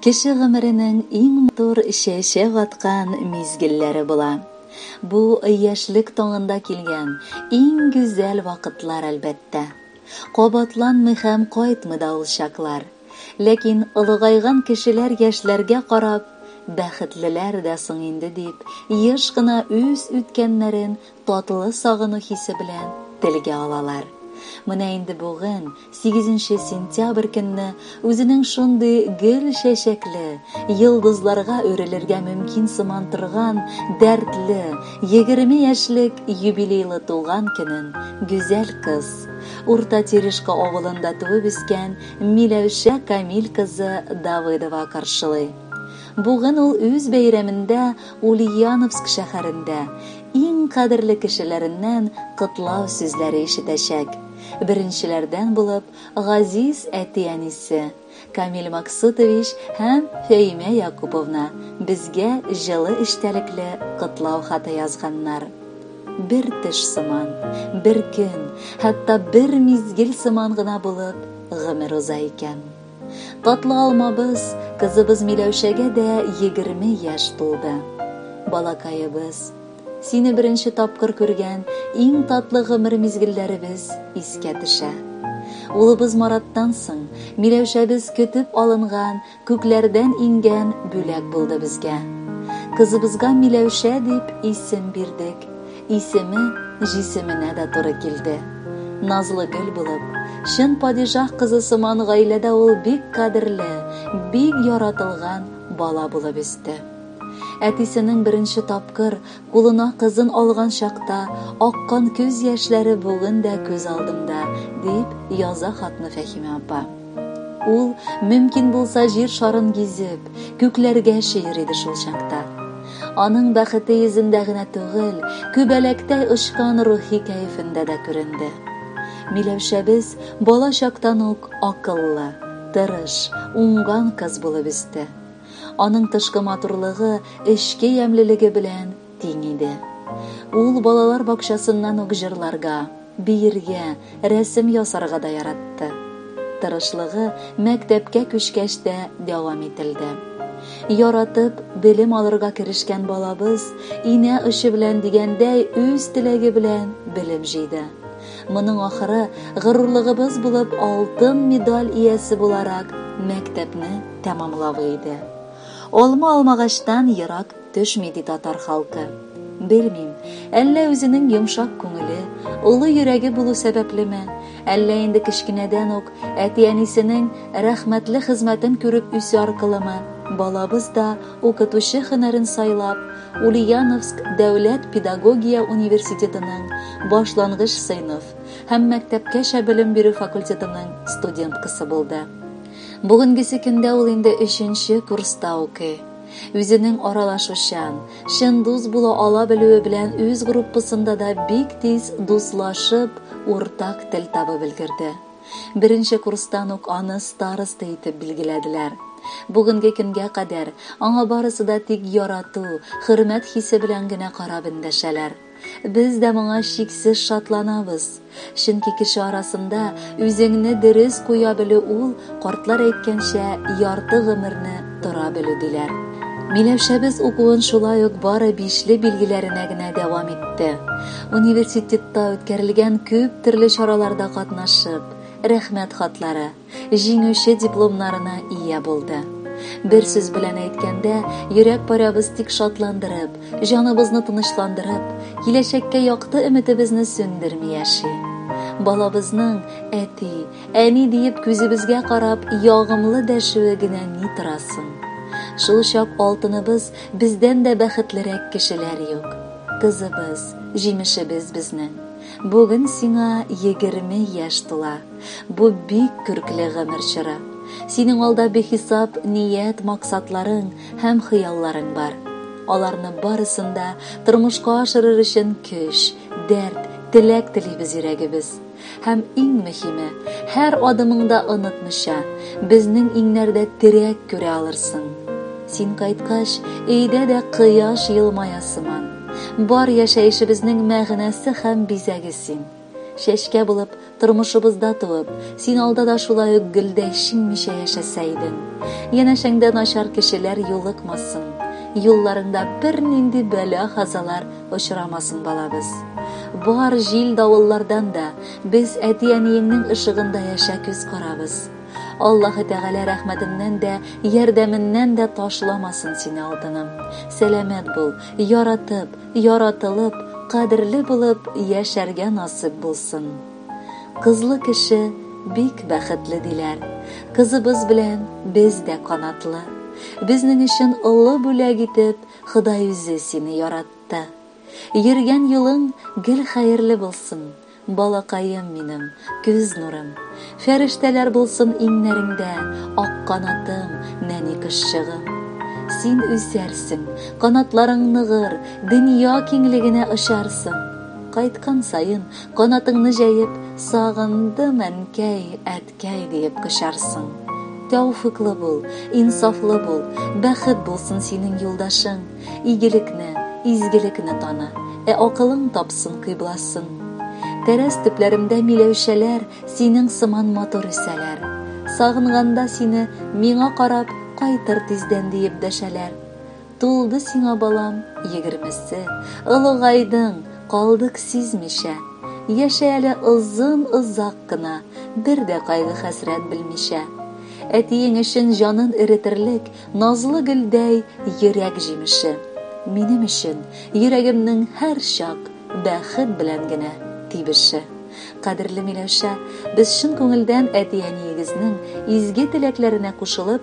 Кеше гомеренең иң матур чәчәк аткан мизгелләре була. Бу яшьлек таңында килгән иң гүзәл вакытлар, әлбәттә. Кабатланмый һәм кайтмый да ул чаклар. Ләкин олыгайган кешеләр яшьләргә карап, Бәхетлеләр дә соң инде, дип, еш кына үз үткәннәрен татлы сагыну хисе белән телгә алалар. Менә инде бүген, сигезенче сентябрь көнне, үзенең шундый гөл чәчәкле, йолдызларга үрелергә мөмкин сыман торган дәртле егерме яшьлек юбилейлы туган көнен гүзәл кыз, Урта Терешка авылында туып-үскән Миләүшә Камил кызы Давыдова каршылый. Бүген ул үз бәйрәмендә Ульяновск шәһәрендә иң кадерле кешеләреннән котлау сүзләре ишетәчәк. Беренчеләрдән булып газиз әти-әнисе Камил Максутович һәм Фәимә Якуповна безгә җылы эчтәлекле котлау хаты язганнар. Бер төш сыман, бер көн, хәтта бер мизгел сыман гына булып гомер уза икән. Татлы алмабыз, кызыбыз Миләүшәгә дә егерме яшь тулды. Балакаебыз, сине беренче тапкыр күргән иң татлы гомер мизгелләребез искә төшә. Улыбыз Мараттан соң, Миләүшәбез көтеп алынган Күкләрдән иңгән бүләк булды безгә. Кызыбызга Миләүшә дип исем бирдек. Исеме җисеменә дә туры килде. Назлы гөл булып, чын падишаһ кызы сыман гаиләдә ул бик кадерле, бик яратылган бала булып үсте. Әтисенең беренче тапкыр Кулына кызын алган чакта аккан күз яшьләре бүген дә күз алдымда, дип яза хатны Фәһимә апа. Ул, мөмкин булса, җир шарын гизеп, күкләргә чөер иде шул чакта. Аның бәхете йөзендә генә түгел, күбәләктәй очкан рухи кәефендә дә күренде. Миләүшәбез бала чактан ук акыллы, тырыш, уңган кыз булып үсте. Аның тышкы матурлыгы эчке ямьлелеге белән тиң иде. Ул балалар бакчасыннан ук җырларга, биергә, рәсем ясарга да яратты. Тырышлыгы мәктәпкә күчкәч тә дәвам ителде. Яратып, белем алырга керешкән балабыз, инә очы белән дигәндәй, үз теләге белән белем җыйды. Моның ахыры, горурлыгыбыз булып, алтын медаль иясе буларак, мәктәпне тәмамлавы иде. Алма алмагачтан ерак төшми ди татар халкы. Белмим, әллә үзенең йомшак күңеле, олы йөрәге булу сәбәплеме, әллә инде кечкенәдән үк әти-әнисенең рәхмәтле хезмәтен күреп үсү аркылымы, балабыз да укытучы һөнәрен сайлап, Ульяновск дәүләт педагогия университетының башлангыч сыйныф һәм мәктәпкәчә белем бирү факультетының студенткасы булды. Бүгенгесе көндә ул инде өченче курста укый. Үзенең аралашучан, чын дус була ала белүе белән үз группасында да бик тиз дуслашып, уртак тел табып өлгерде. Беренче курстан ук аны староста итеп билгеләделәр. Бүгенге көнгә кадәр аңа барысы да тик ярату, хөрмәт хисе белән генә карап эндәшәләр. Без дә моңа чиксез шатланабыз, чөнки кеше арасында үзеңне дөрес куя белү ул, картлар әйткәнчә, ярты гомерне тора белү, диләр. Миләүшәбез укуын шулай ук бары бишле билгеләренә генә дәвам итте. Университетта үткәрелгән күп төрле чараларда катнашып, Рәхмәт хатлары, Җиңүче дипломнарына ия булды. Бер сүз белән әйткәндә, йөрәк парәбез тик шатландырып, җаныбызны тынычландырып, киләчәккә якты өметебезне сүндерми яши. Балабызның әти, әни диеп күзебезгә карап ягымлы дәшүе генә ни торасын. Шул чак алтыныбыз бездән дә бәхетлерәк кешеләр юк. Кызыбыз, җимешебез безнең. Бүген сиңа егерме яшь тула. Бу бик көркле гомер чоры. Синең алда бихисап ният, максатларың һәм хыялларың бар. Аларны барысын да тормышка ашырыр өчен көч, дәрт, теләк телибез йөрәгебез. Һәм иң мөһиме, һәр адымыңда онытмыйча, безнең иңнәрдә терәк күрә алырсың. Син кайткач, өйдә дә кояш елмая сыман. Бар яшәешебезнең мәгънәсе һәм бизәге син. Чәчкә булып, тормышыбызда туып, Син алда да шулай ук гөлдәй шиңмичә яшәсә идең. Янәшәңдә начар кешеләр юлыкмасын, юлларыңда бернинди бәла-казалар очрамасын, балабыз. Бар җил-давыллардан да без әти-әниеңнең ышыгында яшә күз карабыз. Аллаһы Тәгалә рәхмәтеннән дә, ярдәменнән дә ташламасын сине, алтыным. Сәламәт бул, яратып, яратылып, кадерле булып яшәргә насыйп булсын. Кызлы кеше бик бәхетле диләр. Кызыбыз белән без дә канатлы. Безнең өчен олы бүләк итеп Ходай үзе сине яратты. Йөргән юлың гел хәерле булсын. Балакаем минем, көз нурым. Фәрештәләр булсын иңнәреңдә, Ак канатым, нәни кошчыгым. Син үсәрсең, канатларың ныгыр, Дөнья киңлегенә очарсың. Кайткан саен, канатыңны җәеп, Сагындым, әнкәй, әткәй. Кәй диеп кочарсың. Тәүфыйклы бул, инсафлы бул, бәхет булсын синең юлдашың, игелекне, изгелекне таны, ә акылың тапсын кыйбласын. Тәрәз төпләремдә миләүшәләр синең сыман матур үсәләр. Сагынганда сине, миңа карап, кайтыр тиздән диеп дәшәләр. Тулды сиңа, балам, егермесе, Олыгайдың, калдык сизмичә. Яшә әле озын-озак кына, Бер дә кайгы-хәсрәт белмичә. Әтиең өчен җанын эретерлек Назлы гөлдәй йөрәк җимеше. Минем өчен, йөрәгемнең һәрчак Бәхет белән генә тибеше. Кадерле Миләүшә, без чын күңелдән әти-әниегезнең изге теләкләренә кушылып,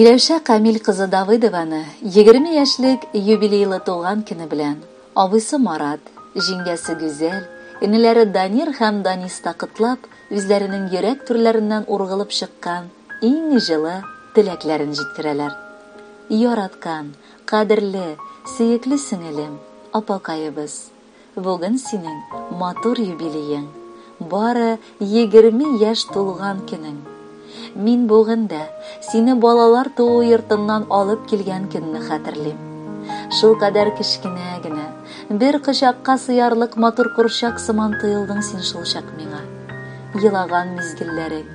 Миләүшә Камил кызы Давыдованы 20 яшьлек юбилейлы туган көне белән абыйсы Марат, җиңгәсе Гүзәл, энеләре Данир һәм Даниста котлап, үзләренең йөрәк түрләреннән ургылып чыккан иң җылы теләкләрен җиткерәләр. Яраткан, Кадерле, сөекле сеңелем, апакаебыз! Бүген синең матур юбилеең, бары егерме яшь тулган көнең. Мин бүген дә сине балалар туу йортыннан алып килгән көнне хәтерлим. Шулкадәр кечкенә генә, бер кочакка сыярлык матур курчак сыман тоелдың син шулчак миңа. Елаган мизгелләрең,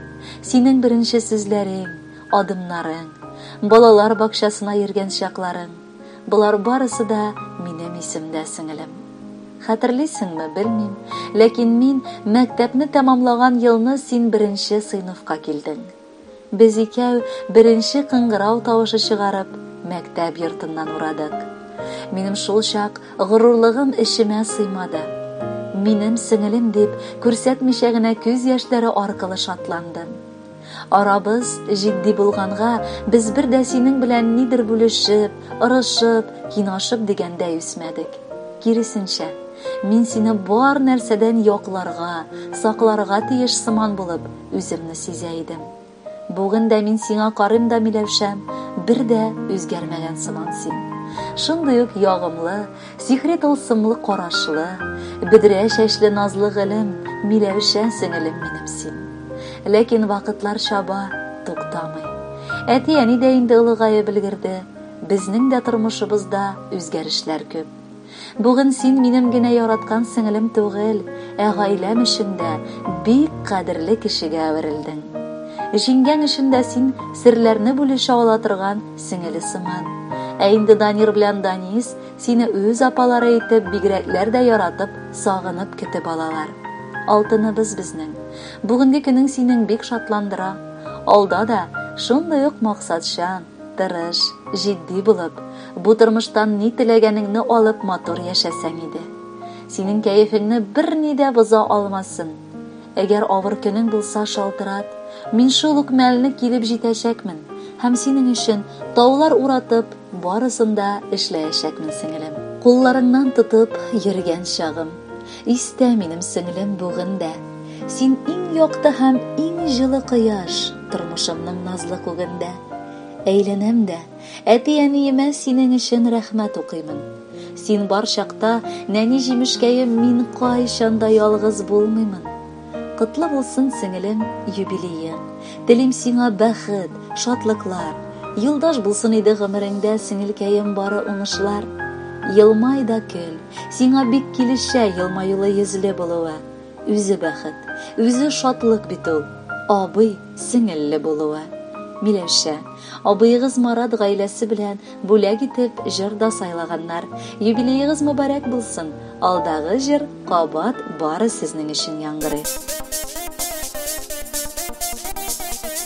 синең беренче сүзләрең, Адымнарың, балалар бакчасына йөргән чакларың, болар барысы да минем исемдә, сеңелем. Хәтерлисеңме, белмим, ләкин мин мәктәпне тәмамлаган елны син беренче сыйныфка килдең. Без икәү беренче кыңгырау тавышы чыгарып, мәктәп йортыннан урадык. Минем шул чак горурлыгым эчемә сыймады. Минем сеңелем дип күрсәтмичә генә күз яшьләре аркылы шатландым. Арабыз җитди булганга, без бер дә синең белән нидер бүлешеп, орышып, кинашып дигәндәй үсмәдек. Киресенчә, мин сине бар нәрсәдән якларга, сакларга тиеш сыман булып, үземне сизә идем. Бүген дә мин сиңа карыйм да, Миләүшәм, бер дә үзгәрмәгән сыман син. Шундый ук ягымлы, Сихри тылсымлы карашлы, бөдрә чәчле назлы гөлем, Миләүшә сеңелем минем син. Ләкин вакытлар чаба, туктамый. Әти-әни дә инде олыгаеп өлгерде, безнең дә тормышыбызда үзгәрешләр күп. Бүген син минем генә яраткан сеңелем түгел, ә гаиләм өчен дә бик кадерле кешегә әверелдең. Җиңгәң өчен дә син серләрне бүлешә ала торган Сеңеле сыман. Ә инде Данир белән Данис сине үз апалары итеп бигрәкләр дә яратып, сагынып көтеп алалар. Алтыныбыз безнең. Бүгенге көнең синең бик шатландыра. Алда да шундый ук максатчан, тырыш, җитди булып, бу тормыштан ни теләгәнеңне алып матур яшәсәң иде. Синең кәефеңне берни дә боза алмасын. Әгәр авыр көнең булса, шалтырат, мин шул ук мәлне килеп җитәчәкмен һәм синең өчен таулар уратып, барысын да эшләячәкмен, сеңелем. Кулларыңнан тотып йөргән чагым. Истә, минем сеңлем, бүген дә. Син иң якты һәм иң җылы кояш, тормышымның назлы күгендә. Әйләнәм дә. Әти-әниемә синең өчен рәхмәт укыймын. Син бар чакта, нәни җимешкәем, мин кайчан да ялгыз булмыймын. Котлы булсын, сеңелем, юбилеең. Телим сиңа бәхет, шатлыклар. Юлдаш булсын иде гомереңдә, сеңелкәем, бары уңышлар. Елмай да көл. Сиңа бик килешә елмаюлы йөзле булуы. үзе бәхет, үзе шатлык бит ул, абый, сеңелле булуы. Миләүшә, абыегыз Марат гаиләсе белән бүләк итеп җыр да сайлаганнар. Юбилеегыз мөбарәк булсын, алдагы җыр кабат бары сезнең өчен яңгырый.